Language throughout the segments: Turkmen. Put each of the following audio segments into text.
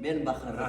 Men baharda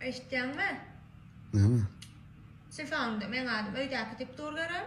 Eşitýäňmi? Näme? Şefaňda men adam öýdäki tip dur görem.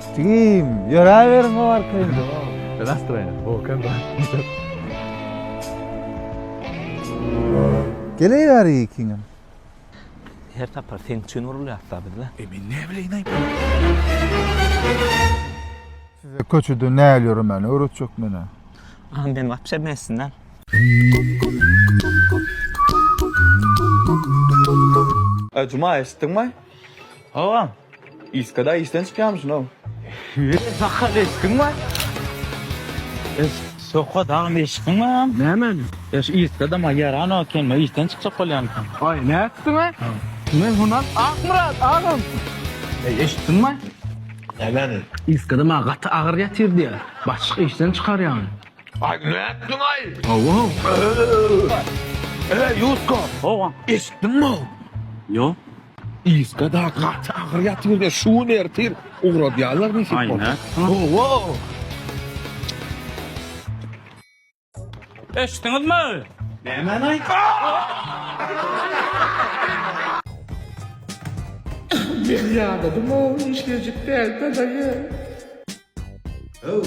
Stigim, ýöräberiň o arka indi. Nastroýny, bolkan da. Geleýär ikiňem. Her sapar seň üçin urulýarys-la biz-le. E men näbileýin-aý? Size köçede näl ýöremegini öwretjek men-ä. A men wapşe bilmeýsin däl. Juma, eşitdiňmi? Howam, Iskada işden çykýarmyşyn-ow. Ýeri sakal eşigiň bar? Eş, soka dagy meşgiň barmy? Nämäni? Eş, Iskada maý ýaran eken, maý işden çykjak bolýarmykan? Aý, nätdiň-ä? Men hunan Akmyrat, agam. Eý, eşitdiň maý? Nämäni? Iskada maňa gaty agyr ýatyr diýýär. Başlyk işden çykarýan. Aý nätdiň aý. Hawa. Eý Ýuska. Hawa. Eşitdiňmi? Ýok. Ýuska da gaty agyr ýatyr we şu gün ertir ugradýarlar diýip. Aý nätdiň. Hawa. Eşitdiňizmi? Nämäni aýtdyň? Men ýadadym-ow, işlejik däl-dä daýy. Öw,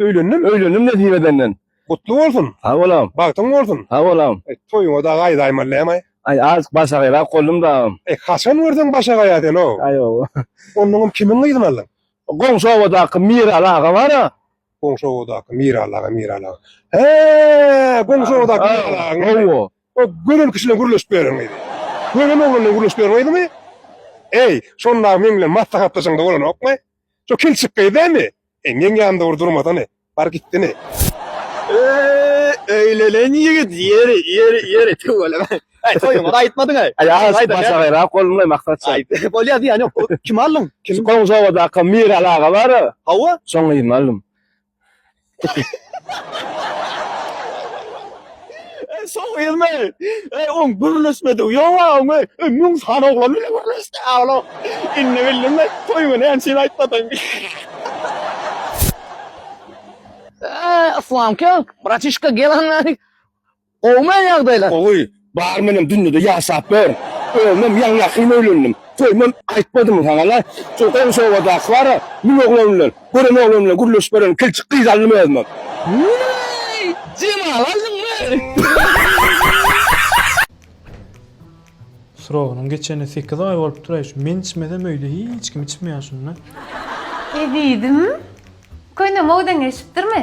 Öýlendim. Öýlendim nesip edenden. Gutly bolsun. Sag bol agam. Bagtyň bolsun. Sag bol agam. E, toýuňa da gaýdaýmaly näme? Aý, azk başagaýrak goldum da agam. E, haçan görseň başagaýa sen o. Aý, o. Onnoňam kimiň gyzyny aldyň? Goňşy obadaky Miraly aga bar-a. Goňşy obadaky Miraly aga, Miraly aga. He, goňşy obadaky Miraly agaň. Hawa. O gören kişi bilen gürleşip ýören gyzy. Gören oglan bilen gürleşip ýören gyzymy? Eý, şonda meň bilen maslahatlaşaňda bolanokmy? Şu kilçik gyz dämi? Eňňeň ýanynda bir durmasany. Bar gitdini. Öýlenen ýigit ýeri, ýeri, ýeri tüweleme. Äý, toýuňa-da aýtmadyň-aý. Aýas başa gaýrap golumlaý Maksat şa. Aý, bolýa zyýany ýok. Kimi aldyň? Şu Goňşy obadaky Miral aga bar-a. Hawa. Şoň gyzyny aldym. Ey soň elme. Ey on gürleşmedi. Ýok aňy. Ey müň san oglan bilen gürleşdi agla. Indi bildim ben toý güni ensin aýtmadyň. Eee, Yslamka, bratişka gel anna. Gowumy ýagdaýlar? Gowy. Bar menem dünýede ýaşap ber. Özümem ýaňy-ýakyn öýlendim. Toýumam aýtmadym saňa-la. Şol goňşy obadaky bar-a, müň oglan bilen, gören oglan bilen gürleşip ýören kilçik gyzy aldym özümem. Wüýý, Jemal aldyňmy? Srogynyň geçenine sekiz aý bolupdyr-aý, şu men içmesem öýde hiç kim içmeýär şunda. Ezizim, köýnegim obdan geçipdirmi?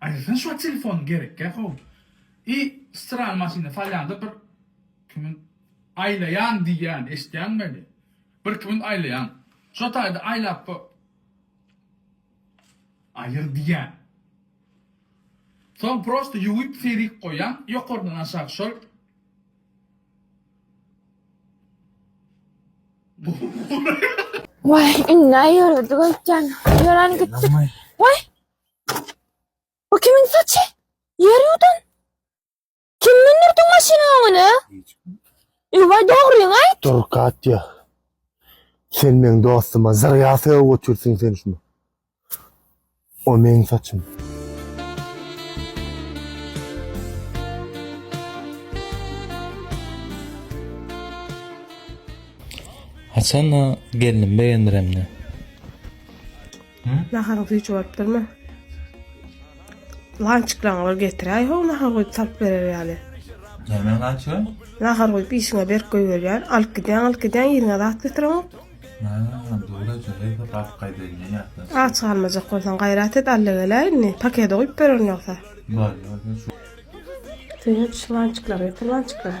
Aýdasyn şo telefon gerekkä how. I strany maşyna salýanda bir kimin aýlaýan diýýän eşitýäňmeli. Bir kimin aýlaýan. Şo taýda aýlap go. Aýyr diýýän. Soň prosta ýuwyp serik goýýaň ýokardan aşak şol. Wah indi aýyrdy gülkän. Ýören gitdik. Wah. Bu kimin saçy? Ýer ýuwdan. Kim mündirdi maşynyň öňüne? Ewa dogryňy aýt. Dur Katýa. Sen meň dostuma zyrýa sögüp götürsiň sen şuny. O meň saçym. Haçan-a gelnim begendiremde. Naharyň süýji bolupdyrmy? Lançyklaňyz getiräý how nahar guýup salyp berer ýaly. Näme lançyga? Nahar guýup işiňe berk goýberýän. Alyp gidýäň, alyp gidýäň, yzyňa zat götüreňok. Ha, dogry aýtýaň, hezil galyp gaýdaýyn ýatdan soň. Aç galmajak bolsaň gaýrat et, allagele indi, pakede guýup bererin ýogsa. Bar, ýa, ýa, şu. Söýünç, lançyklary getir, lançyklary.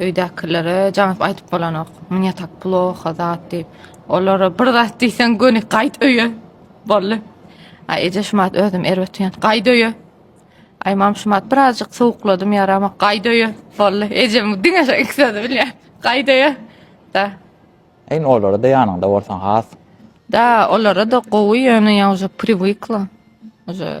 Öýdäkilere janyp aýdyp bolanok, Mne tak ploha zat diýip. Olara bir zat diýseň göni gaýt öýe. Bolly. Aý eje şumat özüm erbet ýan. Gaýt öýe. Aý mam şumat birazjyk sowukladym ýarama. Gaýt öýe. Bolly. Ejem diňe şu iki sözi bilýär. Gaýt öýe. Da. Eýn olara-da ýanyňda bolsaň has. Da, olara-da gowy ýöne ýa uja priwykla. Uja